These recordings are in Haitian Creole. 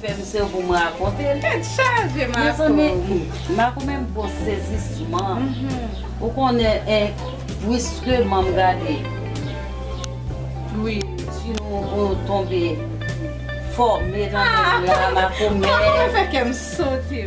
Fèm sew poum rakonte l. Tèt chaje Marco. Mezanmi Marco menm gwo sezisman ou konnen en bwiskeman gade pluie su nou ou tonbe fòme nan menm la Marco mè. Marco mwen fè kèm sote.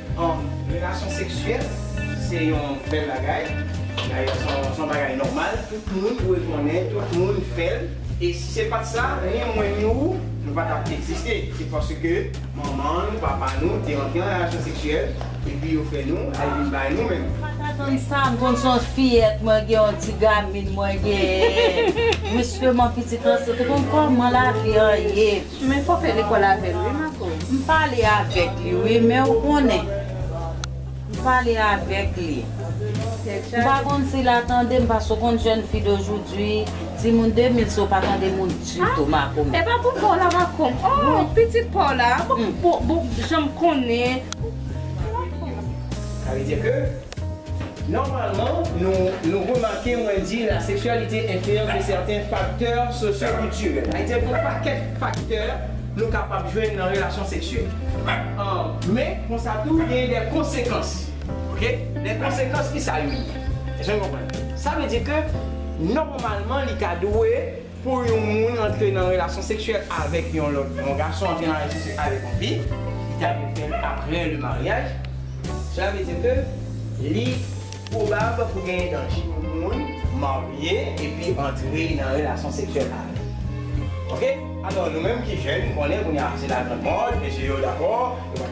Relasyon seksyèl se yon bèl bagay, dayè se yon bagay nòmal, tout moun dwe konnen, tout moun fè l. E si se pa t sa, ni mwen ni ou, nou pa t ap egziste. Se paske manman nou, papa nou te antre nan relasyon seksyèl, epi yo fè nou, yo vin bay nou menm. Ou pa t atann sa, m konn se yon fiyèt, mwen gen yon ti gamine mwen genyen. Mwen sèlman pitit lan, se te konn kòman lavi an ye. Men fok fe lekol avel wi Marco. M pale avek li wi men ou konnen m pale avek li m pa konn si la tandem pask ou konn jeune fille d'aujourd'hui ti moun 2000 se ou pa tande moun ditou Marco men. Epa pou paw la Marco m oh pitit paw la bon janm konnen. Sa vle di ke Nòmalman, nou nou remake mwen di la seksyalite enfliyans de sèten faktè sosyo-kiltirèl. Ayiti a gen yon pakèt faktè nou kapab jwenn nan relasyon seksyèl. Men, konsa tou, gen dè konsekans. Ok? Dè konsekans, ki sa yo ye? Èske nou konprann? Sa vle di ke, nòmalman, li ta dwe. Pou yon moun antre nan relasyon seksyèl avèk yon lòt, yon gason antre nan relasyon seksyèl avèk yon fi, li ta dwe fè l aprè le maryaj, sela vle di ke li pwobab pou genyen danje pou yon moun marye epi antre nan relasyon seksyèl avè l. Ok, alò nou menm ki jèn konnen kounya se lagrann mòd, mesye yo dakò, yo pa.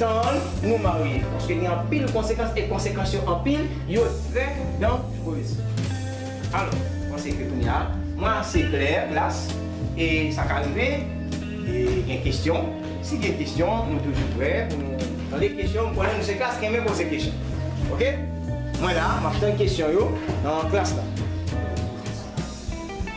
Tann nou marye paske gen anpil konsekans e konsekans yo anpil yo trè dangerez alò panse ke kounye a mwen ase klè klas e sa ka rive e gen kesyon si gen kesyon nou toujou prè pou nou tande kesyon m konnen nou se klas ki renmen poze kesyon ok mwen la map tann kesyon yo nan klas la.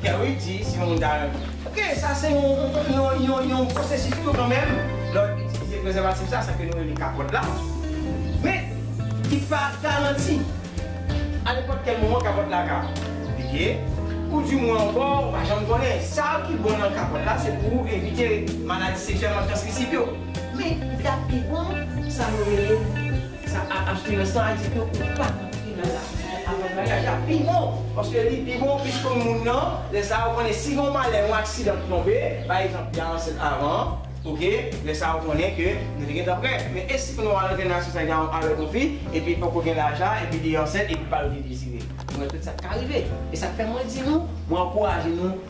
Pierre Louis di si yon moun ta renmen. Ok, sa se yon pwosesis tou kanmenm lè w itilize prezèvatif sa, sa ke nou rele kapòt la. Men, li pa garanti. A nenpòt kèl moman kapòt la ka pike, ou di mwen ankò ou pa janm konnen. Sa ki bon nan kapòt la se pou evite maladi seksyèlman transmisib yo. Men, li ta pi bon sa nou rele. Sa ap achte nan sa a di ke ou pa antre nan lapriyè avan maryaj la pi bon, paske li pi bon ou plis konn moun nan, lè sa a ou konnen si gen yon malè, yon aksidan ki tonbe, pa egzanp li a ansent avan an, ok, lè sa a ou konnen ke nou te gentan prè, men e si kounye a ou al antre nan relasyon sa a avèk yon fi, epi poko gen laj la, epi li ansent epi pa vle dezire, nou wè tout sa k ka rive, e sa k fè mwen di nou, mwen ankouraje nou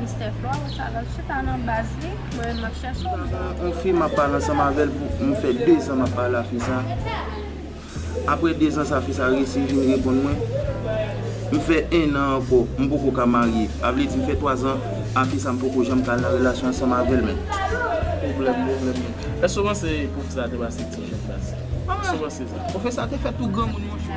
Mister Flo ou sa lal chita nan baz li mwen menm map chèche w mpa wè w. On fi map pale ansanm avèl pou m fè 2 zan map pale a fi sa aprè 2 zan sa fi sa resi vin reponn mwen m fè 1 an ankò m poko ka marye a vle di m fè 3 zan a fi sa m poko janm ka al nan relasyon ansanm avèl men pwoblèm pwoblèm mwen èske w panse pwofesè a te pase ti jèn sa èske w panse sa. Pwofesè a te fè tou granmoun monchè.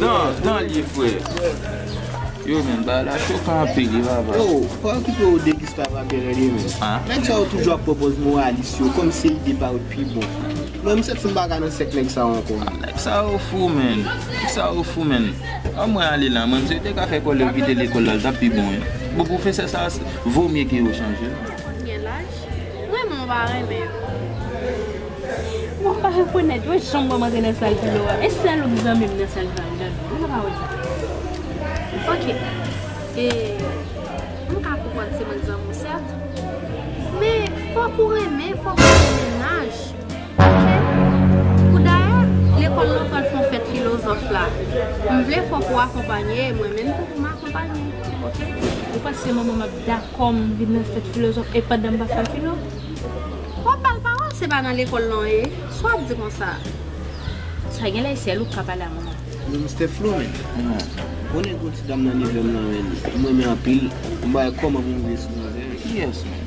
Dan, dan li ye frè. Yo men, bagay la chokan anpil wi vava. Yo, pa okipe yo de Gustave ak Bernard yo men. Nèg sa yo toujou ap pwopoz moralis yo kòm se ide pa yo t pi bon. Mwen m santi m pa ka nan sèk nèg sa yo ankò. Nèg sa yo fou menn. Nèg sa yo fou menn. An mwen ale la mwen, si yo te ka fè kòlè yo kite lekòl la li tap pi bon wi. Bon pwofesè sa vomye ke yo chanje l. Ou gen laj? Mwen menm m pa renmen yo. Mwen pa rekonèt wè janm wèm antre nan sal filo a e sèl ouk zanmim nan sal filo a mka wè mwen pa wè sa ok e mka konprann se mwen zanmiw sèt men fòk ou renmen fòk ou gen mennaj ok poudayè lekòl lan pral fon fèt filozòf la mvle fòk ou akonpanye mwen menm tou poum akonpanye ok ou panse manmanm ap dakò. Kòm vin nan fèt filozòf e pandan m pa fè filo. W ap ba l pawòl se pa nan lekòl lan w ye sa w ap di konsa a. Sa gen lè sèl ou k ka pale ak mwen. Allo Mister Flo men on nèg on ti dam nan nivo m nan men m renmen anpil m bay kòman pou m veye sou manzè a kiyès menm.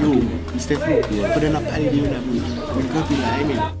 Yo, Mistè Flo, pandan nap pale de yo nap ri. Mwen kanpe la, amen.